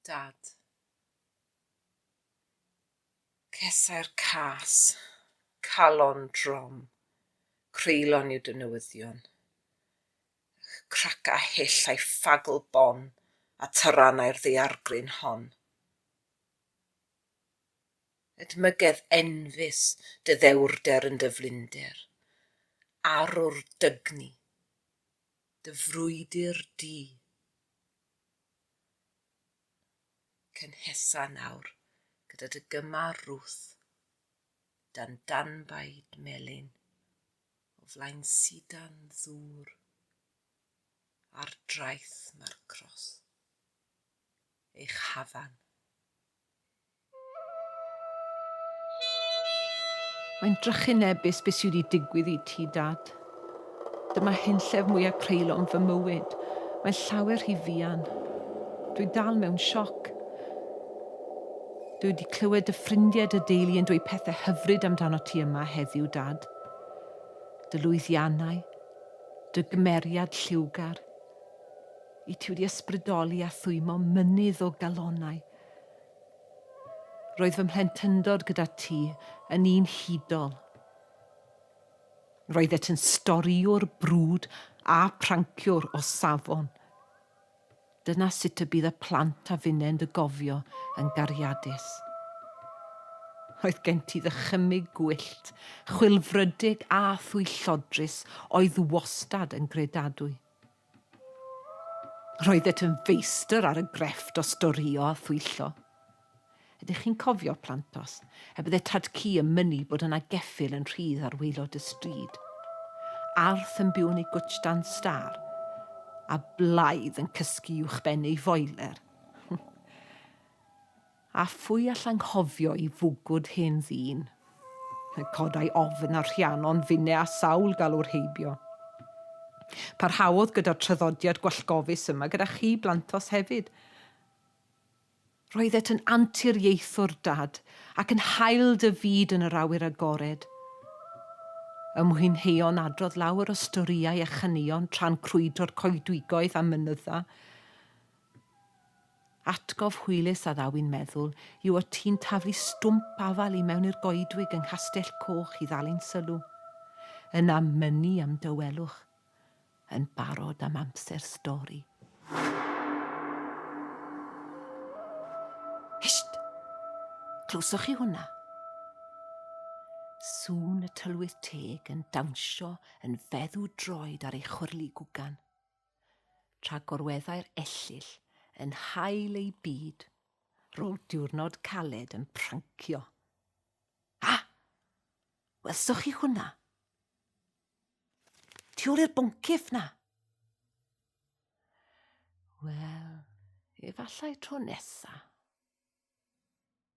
Dad. Cesau'r cas, calon drom, creulon yw dy newyddion. Crac a hyll a'i ffagl bon a tarannau'r ddaeargryn hon. Edmygedd enfys dy ddewrder yn dy flinder, arwr dygni. dy frwydr di. Cynhesa nawr gyda dy gymar rwth, dan danbaid melyn, o flaen sidan ddŵr, ar draeth mae'r cros, eich hafan. Mae'n drychinebus be sydd wedi digwydd i ti, Dad. Dyma hunllef mwyaf creulon fy mywyd. Mae'n llawer rhy fuan. Dwi dal mewn sioc. Dwi wedi clywed dy ffrindiau, dy deulu yn dweud pethau hyfryd amdano ti yma heddiw, Dad. Dy lwyddiannau, dy gymeriad lliwgar. Y tu wedi ysbrydoli a thwymo mynydd o galonnau. Roedd fy mhlentyndod gyda ti yn un hudol. Roeddet yn storïwr brwd a pranciwr o safon. Dyna sut y bydd y plant a finnau'n dy gofio yn gariadus. Roedd gen ti ddychymyg gwyllt, chwilfrydig a thwyllodrus oedd wastad yn gredadwy. Roeddet yn feistr ar y grefft o storïo a thwyllo. Ydych chi'n cofio, Plantos, y bydde Tad-cu yn mynnu bod yna geffyl yn rhydd ar waelod y stryd, Arth yn byw'n ei gwtsh dan stâr, a Blaidd yn cysgu uwchben ei foiler? A phwy all anghofio'i fwgwd hen ddyn? Fe codai ofn ar Rhiannon finne a sawl galwr heibio. Parhaodd gyda'r traddodiad gwallgofus yma gyda chi blantos hefyd. Roeddet yn anturiaethwr, Dad, ac yn hael dy fyd yn yr awyr agored. Y mwynheuon adrodd lawer o storïau a chaneuon tra'n crwydro'r coedwigoedd a mynydda. Atgof hwylus a ddaw i'n meddwl yw y tî'n taflu stwmp afal i mewn i'r goedwig yng Nghastell Coch i ddal ein sylw. Yna mynnu am dawelwch. Yn barod am amser stori. Hysht! Clywsoch chi hwnna? Sŵn y tylwyth teg yn dawnsio yn feddw droed ar ei chwyrlu gwgan. tra gorweddai'r ellyll yn hael ei byd rôl diwrnod caled yn prancio. A! Welsoch chi hwnna? Tu ôl i'r boncyff na! Wel, efallai tro nesa.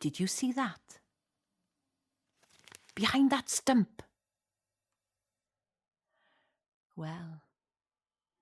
Did you see that? Behind that stump. Well,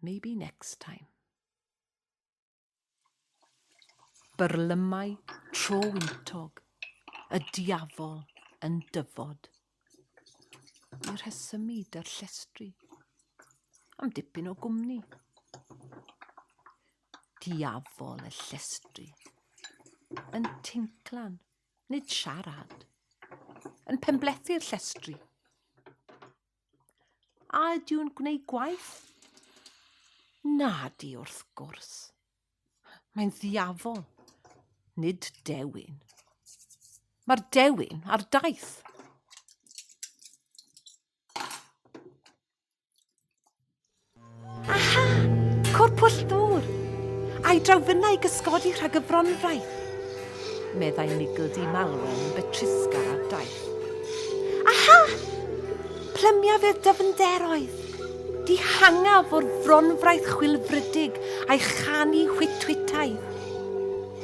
maybe next time. Byrlymau tro wyntog, y diafol yn dyfod. Y rhesymid a'r llestri. Am dipyn o gwmni. Diafol y llestri. Yn tinclan, nid siarad. Yn penblethu'r llestri. A ydyw'n gwneud gwaith? Na di wrth gwrs. Mae'n ddiafol, nid dewin. Mae'r dewin ar daith. Aha! Cwr pwll dŵr! A'i drawfynnau gysgodi rhag y fronfraith. meddai Nigel di Malwen yn betrusgar ar daith. Aha! Plymiaf i'r dyfnderoedd. Dihangaf o'r fronfraith chwilfrydig a'i chanu hwytwitau.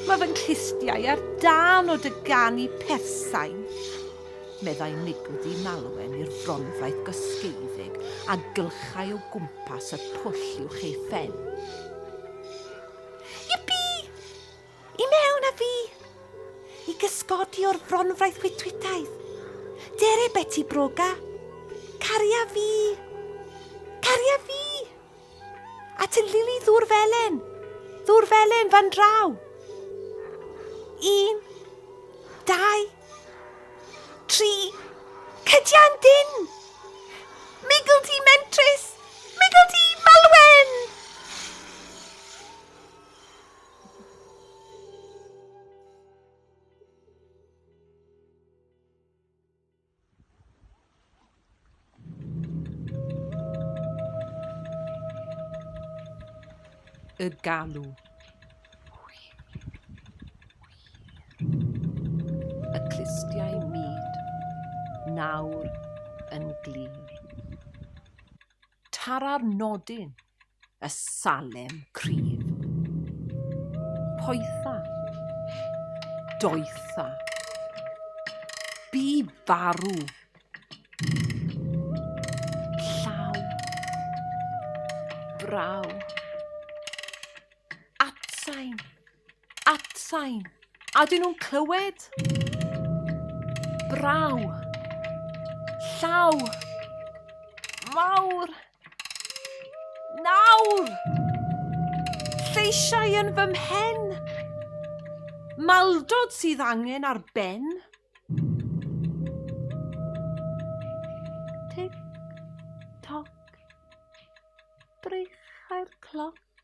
Mae fy nghlustiau ar dan o dy ganu persain, meddai Nigel di Malwen i'r fronfraith gosgeiddig a gylchau o gwmpas y pwll i'w chei phen. I mewn a fi! I gysgodi o'r fronfraith chwitwitaidd. Dere Beti Broga! Caria fi! Caria fi! At y lili ddŵr felen! Ddŵr felen fan draw! Un, dau, tri, cydian dyn! Migl di mentrus! Migl di malwen! y galw. Y clustiau myd nawr yn glin. Tara'r nodyn, y salem cryf. Poetha. Doetha. Bu farw. Llaw. Braw. Atsain. At sain. A dyn nhw'n clywed? Braw. Llaw. Mawr. Nawr. Lleisiau yn fy mhen. Maldod sydd angen ar ben. Tic, toc. Breichau'r cloc.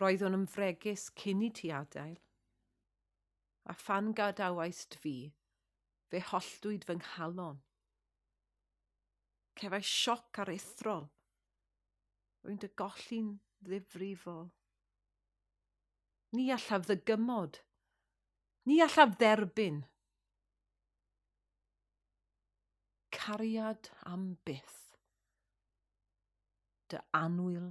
Roeddwn yn fregus cyn i ti adael, a phan gadawaist fi, fe holltwyd fy nghalon. Cefai sioc ar ethrol. Rwy'n dy golli'n ddifrifol. Ni allaf ddygymod. Ni allaf dderbyn. Cariad am byth. Dy anwyl